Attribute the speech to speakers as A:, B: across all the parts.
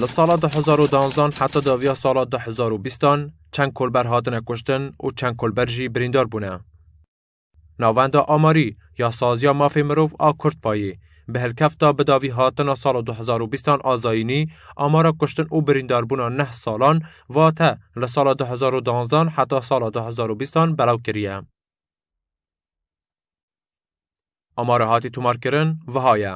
A: Li sala du hezar û danzdan heta daviya sala du hezar û bîstan çend kolber hatine kuştin û çend kolber jî birîndar bûne. Navenda amarî ya saziya mafê mirov a Kurdpayê bi hilkefta bi davî hatina sala du hezar û bîstan a zayînî amara kuştin û birîndarbûna neh salan vate li sala du hezar û danzdan heta sala du hezar û bîstan belav kiriye. Amara hatî tomarkirin viha ye.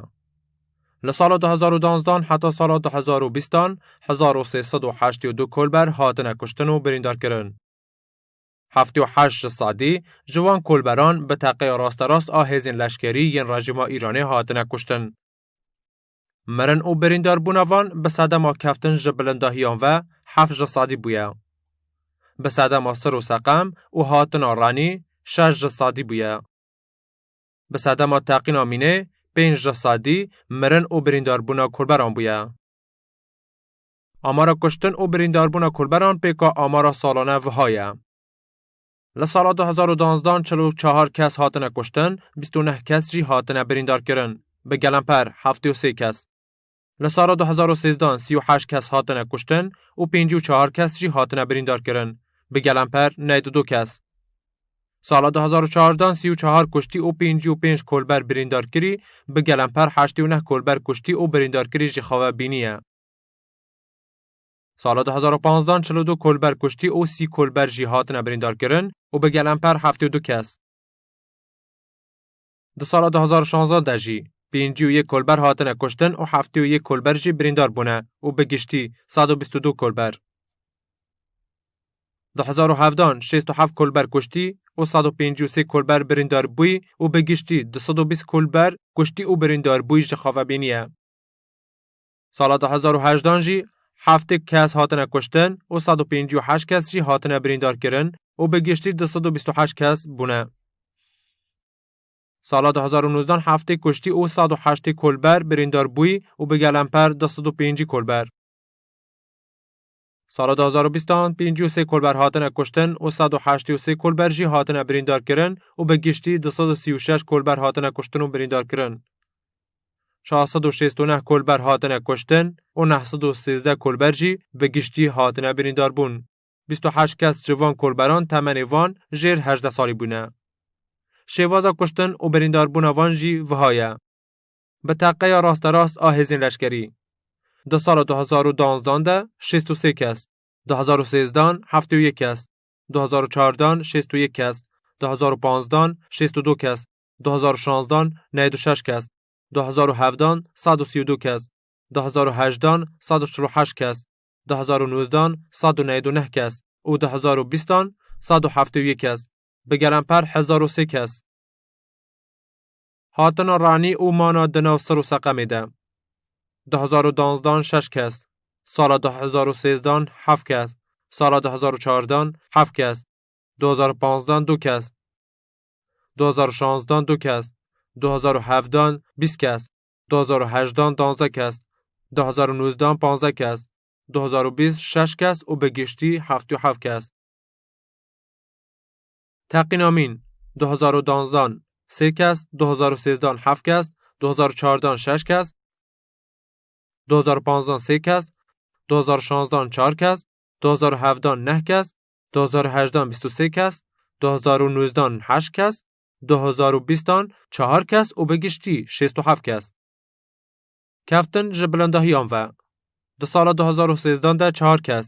A: Li sala 2012 heta sala 2020 1382 kolber hatine kuştin û birîndarkirin. 78 ji sedî ji wan kolberan bi teqeya rasterast a hêzên leşkerî yên rejîma Îranê hatine kuştin. Mirin û birîndarbûna van bi sedema keftin ji bilindahiyan ve heft ji sedî bûye. Bi sedema sir û seqem û hatina renî şeş ji sedî bûye. Bi sedema teqîna mînê pênc ji sedî mirin û birîndarbûna kolberan bûye. Amara kuştin û birîndarbûna kolberan pêka amara salane viha ye. Li sala du hezar û duanzdan çil û çahar kes hatine kuştin, bîst û neh kes jî hatine birîndarkirin. Bi gelemper heftê û sê kes. Li sala du hezar û sêzdan sî û heşt kes hatine kuştin û pêncî û çahar kes jî hatine birîndarkirin. Bi gelemper neyt û du kes. Sala du hezar û çardan sî û çahar kuştî û pêncî û pênc kolber birîndarkirî, bi gelemper heştê û neh kolber kuştî û birîndarkirî jî xewe bîniye. Sala du hezar û panzdan çil û du kolber kuştî û sî kolber jî hatine birîndarkirin û bi gelemper heftê û du kes. Di sala du hezar û şanzdan de jî pêncî û yek kolber hatine kuştin û heftê û yek kolber jî birîndar bûne û bi giştî sed û bîst û du kolber. Di hezar û hevdan şêst û heft kolber kuştî û sed û pêncî û sê kolber birîndar bûyî û bi giştî du sed û bîst kolber kuştî û birîndar bûyî ji xavebînî ye. Sala du hezar û hejdan jî heftê kes hatine kuştin û sed û pêncî û heşt kes jî hatine birîndarkirin û bi giştî du sed û bîst û heşt kes bûne. Sala du hezar û nozdan heftê kuştî û sed û heştê kolber birîndar bûyî û bi gelemper du sed û pêncî kolber. Sala du hezar û bîstan pêncî û sê kolber hatine kuştin û sed û heştê û sê kolber jî hatine birîndarkirin û bi giştî du sed û sî û şeş kolber hatine kuştin û birîndarkirin. Çar sed û şêst û neh kolber hatine kuştin û neh sed û sêzdeh kolber jî bi giştî hatine birîndarbûn. Bîst û heşt kes ji van kolberan temenê van jêr hejdeh salî bûne. Şêvaza kuştin û birîndarbûna van jî viha ye. bi teqeya rasterast a hêzên leşkerî. Di sala du hezar û duwazdeh de şêst û sê kes, du hezar û sêzdan heftê û yek kes, du hezar û çardan şêst û yek kes, du hezar û panzdan şêst û du kes, du hezar û şanzdan neyad û şeş kes, du hezar û hevdan sed û sî û du kes, du hezar û hejdan sed û çil û heşt kes, du hezar û nozdan sed û neyad û neh kes û du hezar û bîstan sed û heftê û yek kes. Bi gelemper hezar û sê kes. Hatina Ranî û Mana di nav Sir û Seqemê de. Di hezar û danzdan şeş kes, sala di hezar û sêzdan heft kes, sala di hezar û çardan heft kes, du hezar û panzdan du kes, du hezar û şanzdan du kes, du hezar û hevdan bîst kes, du hezar û hejdan danzdeh kes, du hezar û nûzdan panzdeh kes, du hezar û bîst şeş kes û bi giştî heftê û heft kes. Teqîn Amîn du hezar û danzdan sê kes, du hezar û sêzdan heft kes, du hezar û çardan şeş kes, du hezar û panzdan sê kes, du hezar û şanzdan çar kes, du hezar û hevdan neh kes, du hezar û hejdan bîst û sê kes, du hezar û nûzdan heşt kes, du hezar û bîstan çar kes û bi giştî şêst û heft kes. Keftin ji bilindahiyan ve. Di sala du hezar û sêzdan de çar kes,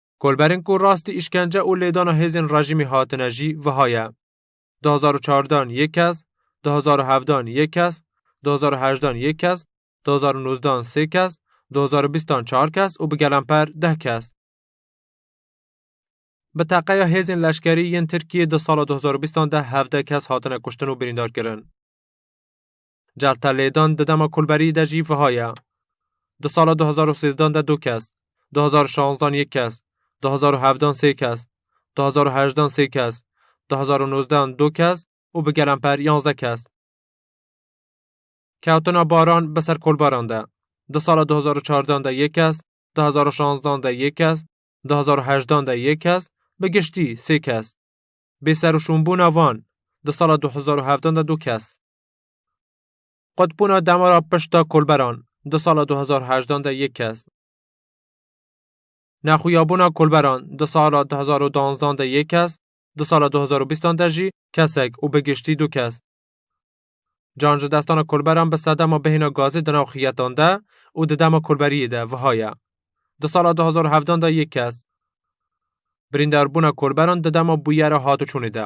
A: Kolberên ku rastî îşkence û lêdana hêzên rejîmê hatine jî wiha ye. Di hezar û çardan yê kes, di hezar û hevdan yê kes, di hezar û hejdan yê kes, di hezar û nozdan sê kes, di hezar û bîstan çar kes û bi gelemper deh kes. Bi teqeya hêzên leşkerî yên Tirkiyê di sala du hezar û bîstan de hevdeh kes hatine kuştin û birîndarkirin. Celta lêdan di dema kulberî de jî viha ye. Di sala 2013 de du kes, 2016 yek kes, 2017 sê kes, 2018 sê kes, 2019 du kes û bi gelemper yanze kes. Kewtina baran bi ser kulbaran de. Di sala 2014 de yek kes, 2016 de yek kes, 2018 de yek kes, bi giştî sê kes. Bêserûşûnbûna van di sala 2017 de du kes. Qutbûna demara pişta kolberan di sala 2018 de yek kes. Nexuyabûna kolberan di sala 2012 de yek kes, di sala 2020 de jî kesek û bi giştî du kes. Can ji destana kolberan bi sedema bihêna gazê di nav xiyetan de û di dema kolberiyê de viha ye. Di sala 2017 de yek kes. Birîndarbûna kolberan di dema bûyera hatiçûnê de.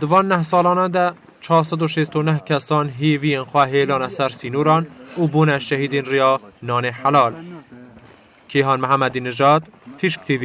A: Di van neh salana de çar sed û şêst û neh kesan hêviyên xwe hêlane ser sînoran û bûne şehîdên riya nanê helal. Kîhan Mihemedî Nijad, Tîşk TV.